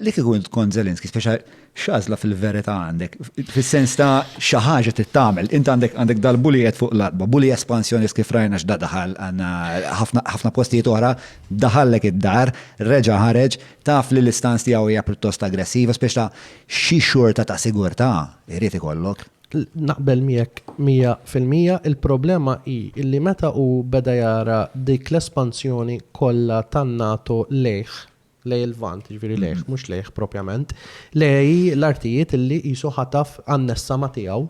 li kieku int kont Zelenski, speċa xazla fil-verita għandek, fil-sens ta' xaħġa t-tamel, int għandek għandek dal-bulijet fuq l-arba, bulija espansjonist kif rajna x'da daħal għanna ħafna postijiet oħra, daħallek id-dar, reġa ħareġ, taf li l-istanz tiegħu hija pjuttost aggressiva, speċ ta' xi xorta ta' sigurtà irid ikollok. Naqbel miegħek 100% il-problema hi li meta u beda jara dik l-espansjoni kollha tan-NATO lejh lejn il-Lvant, jiġifieri lejh, mhux lejh propjament, lejn l-artijiet li qisu ħataf annessa ma' tiegħu,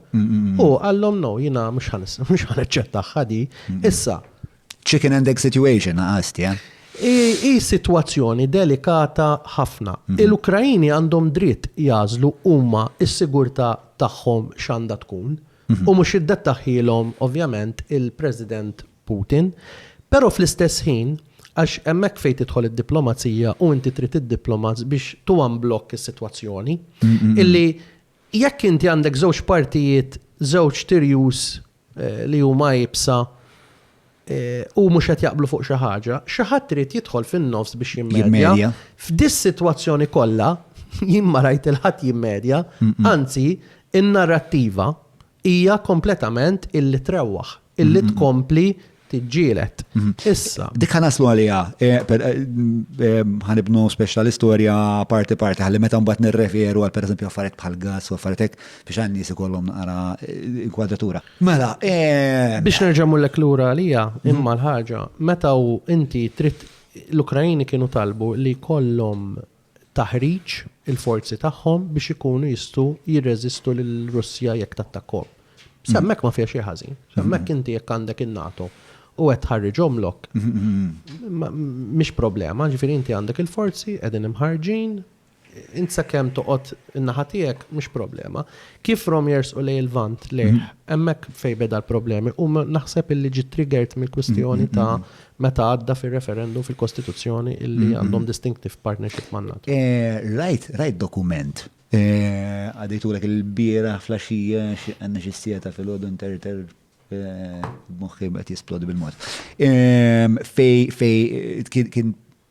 hu qallhom no, jiena mhux ħa naċċettagħha di. Issa. Chicken and egg situation naqasti, eh? Hi sitwazzjoni delikata ħafna. Il-Ukraini għandhom dritt jagħżlu huma s-sigurtà tagħhom x'għandha tkun u mhux iddettaħħielhom ovvjament il-President Putin, Però fl-istess ħin, għax hemmhekk fejn tidħol id-diplomazija u inti trid id-diplomats biex to unblock is-sitwazzjoni, illi jekk inti għandek żewġ partijiet, żewġ tirjus li huma iebsa u mhux qed jaqblu fuq xi ħaġa, xi ħadd irid jidħol fin-nofs biex jimmedja. F'dis-sitwazzjoni kollha, jien ma rajt il-ħadd jimmedja, anzi, in-narrattiva Hija kompletament illi trewwaħ, illi tkompli tiġġieled. Issa. Dik ħanaslu għaliha, ħanibnu speċ tal-istorja parti parti, ħalli meta mbagħad nirreferu għal pereżempju affarijiet bħal gas u affarijiet hekk biex għan nies ikollhom naqra inkwadratura. Mela, biex nerġa' mullek lura għalija, imma l-ħaġa, meta inti trid l-Ukrajini kienu talbu li kollhom taħriġ il-forzi tagħhom biex ikunu jistgħu jirreżistu lill-Russja jekk tattakkahom. Sa hemmhekk ma fiha xejn ħażin. Sa hemmhekk inti jekk għandek in-NATO u qed tħarriġhom lok. Mhix problema, ġifieri inti għandek il-forzi qegħdin imħarġin, int sakemm toqgħod in-naħa tiegħek mhix problema. Kif rom jersqu lej il-vant lejh, hemmhekk fejn beda l-problemi u naħseb illi ġi triggered mill-kwistjoni ta' Meta għadda fir-referendum fil-Kostituzzjoni illi għandhom distinctive partnership man-NATO. Rajt, rajt dokument. Għadejtulek il-bieraħ fl-għaxija xi għandna xi siegħta filgħodu nterter b'moħħi qed jisplodi bil-mod. Fej fej kien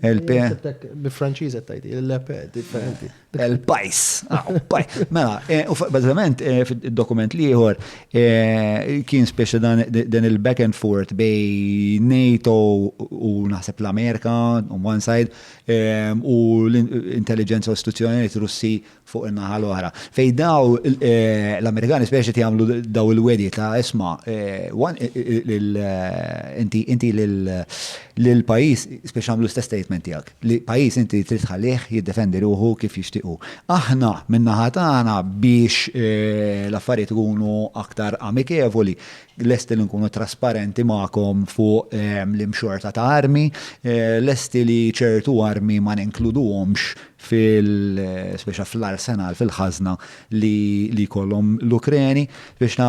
LP. Bi Franċiż qed tgħid, il-LP differenti. Il-pajs. Ah, mela, eh, u bażikament eh, fid-dokument li ieħor eh, kien speċi dan il-back and forth bej NATO u naħseb l-Amerika on one side u l-intelligenza u istituzzjonijiet Russi fuq in-naħa l-oħra. Fejn daw l-Amerikani speċi qed jagħmlu daw il-wedi ta' isma' inti lil pajjiż speċi għamlu l-istess statement tiegħek li pajjiż inti trid tħallih jiddefendi ruħu kif jixtiequ. Aħna min-naħa tagħna biex l-affarijiet ikunu aktar amikevoli lesti li nkunu trasparenti magħkom fuq l-imxorta ta' armi, lesti li ċertu armi ma ninkluduhomx fil, speċa fl-arsenal, fil-ħażna li jkollhom l-Ukreni, speċa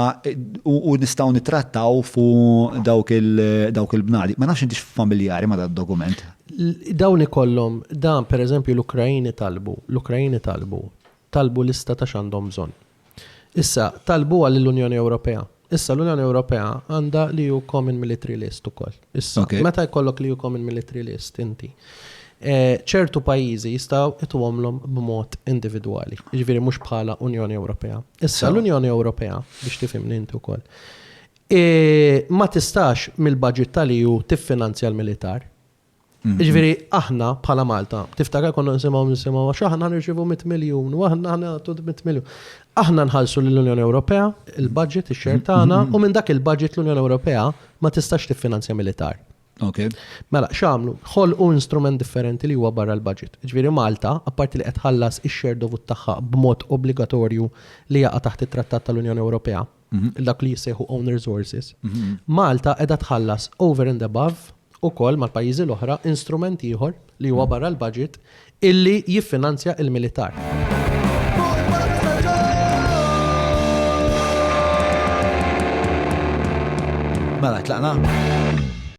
u nistgħu nittrattaw fuq dawk il-bnadi. Ma nafx intix familjari ma' dad-dokument. Dawn ikollhom, dan pereżempju l-Ukraini talbu, l-Ukraini talbu, talbu lista ta' x'għandhom bżonn. Issa, talbuha lill-Unjoni Ewropea. Issa l-Unjoni Ewropea għandha l-EU Common Military List ukoll. Issa, okay. meta jkollok l-EU Common Military List inti, eh, ċertu pajjiżi jistgħu ituhomlhom b'mod individwali, jiġifieri mhux bħala Unjoni Ewropea. Issa l-Unjoni Ewropea biex tifhimni inti wkoll. Eh, ma tistax mill-budget tal-EU tiffinanzja l-militar. Ġviri, aħna bħala Malta, tiftakar konna nisimaw nisimaw, għax aħna nirċivu 100 miljon, u aħna aħna għattu 100 miljon. Aħna nħalsu l-Unjoni Ewropea, il-budget, il-xer tagħna, u minn dak il-budget l-Unjoni Ewropea ma tistax tiffinanzja militar. Ok. Mela, xamlu, ħol u instrument differenti li huwa barra l-budget. Ġviri Malta, apparti li qed ħallas ix-xer dovut tagħha b'mod obbligatorju li jaqa' taħt it-Trattat tal-Unjoni Ewropea, Mhm. dak li jissejħu own resources, mhm. Malta edha tħallas over and above u kol mal-pajizi l-oħra instrument ieħor li huwa mhm. barra l-budget illi jiffinanzja il-militar. Mela, tlaqna?